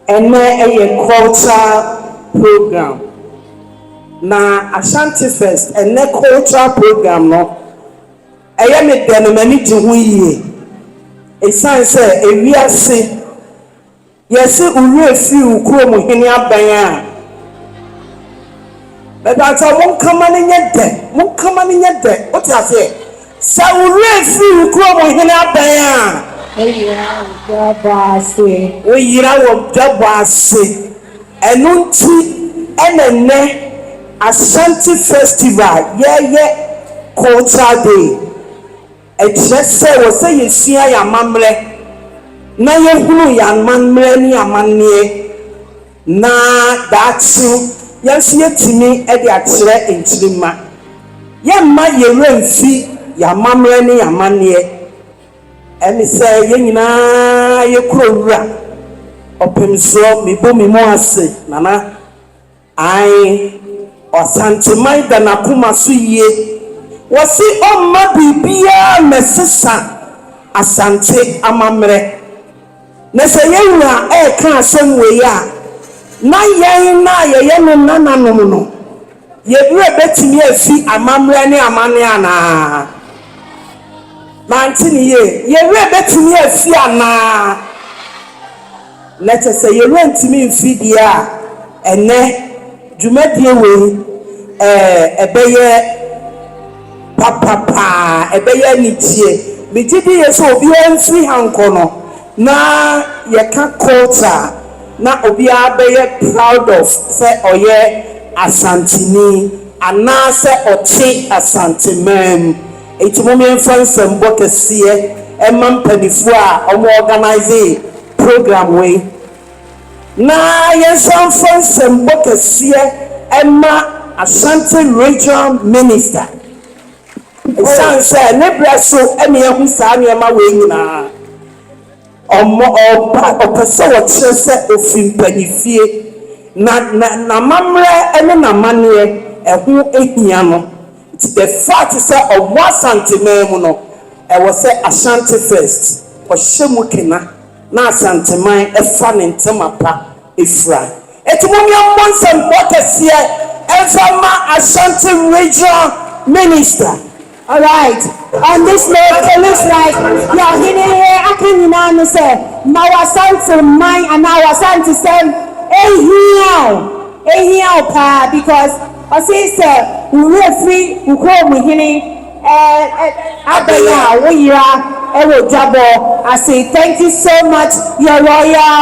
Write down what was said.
Ɛnnɛ ɛyɛ cultural program na Ashanti Fest ɛnnɛ cultural program no ɛyɛ me dɛ na m'ani gye ho yie ɛsiane sɛ ewiase yɛse wo werɛ firi wo kurom hene aban a. Mepakyɛw, monka ma no nyɛ dɛ, monka ma no nyɛ dɛ, wote aseɛ? Sɛ wo werɛ firi wo kurom hene abɛn a. Woyera wo dwabɔ ase. Woyera wo dwabɔ ase. Ɛno nti na nnɛ Ashanti Festival yɛyɛ Culture Day Ɛkyerɛ sɛ ɛwɔ sɛ yesua yɛn amammerɛ na yehunu yɛn amammerɛ ne amanneɛ na daakye yɛn nso yɛatumi de akyerɛ nkyirimma. Yɛremma yɛn werɛ mfi yɛn amammerɛ ne yɛn amanneɛ. Ɛne sɛ yɛn nyinaa yɛkorɔ wura ɔpemsoɔ, Mebu me mu ase, Nana. Ae, Ɔsanteman da n'akoma so yie. Wɔse ɔmma biribiara mmɛsesa Asante amammerɛ. Na sɛ yɛn wura reka asɛm wei a, na yɛn no a yɛyɛ ne nananom no, yɛn werɛ bɛtumi afi amammerɛ ne amanneɛ anaa? Mante no yie. Yɛn werɛ bɛtumi afi anaa? Na kyɛ sɛ yɛrentumi mfiri deɛ a ɛnnɛ dwumadie wei ɛbɛyɛ papa paa, ɛbɛyɛ anigyeɛ. Megye diiɛ sɛ obiara mfiri ha nkɔ no, na yɛka culture a, na obiara bɛyɛ proud of sɛ ɔyɛ Asanteni anaasɛ ɔte Asante man mu. Enti mom yɛmfa nsɛmbɔ kɛseɛ mma mpaninfoɔ a wɔn organise program wei na yɛnsan mfa nsɛmbɔ kɛseɛ mma Ashanti Regional Minister ɛsiane sɛ ne berɛ so na yɛahu saa nneɛma wei nyinaa. Ɔma ɔba a ɔpɛ sɛ ɔkyerɛ sɛ ofi mpanyinfie na n'amammerɛ ne n'amanneɛ ɛho hia no. Nti the fact sɛ ɔwɔ Asanteman mu no, ɛwɔ sɛ Ashanti First ɔhyɛ mu kena na Asanteman fa ne ntɛma pa fira. Nti mommia mmɔ nsɛmfua kɛseɛ mfa mma Ashanti Regional Minister. Alright on this note it looks like deɛ ɔhene he aka nyinaa ne sɛ ma w'asante man anaa w'asantesɛm nhia wo, nhia wo paa because ɔse sɛ wo werɛ firi wo kurom hene ɛɛ abɛn a wo yera wɔ dwabɔ ase thank you so much your royal.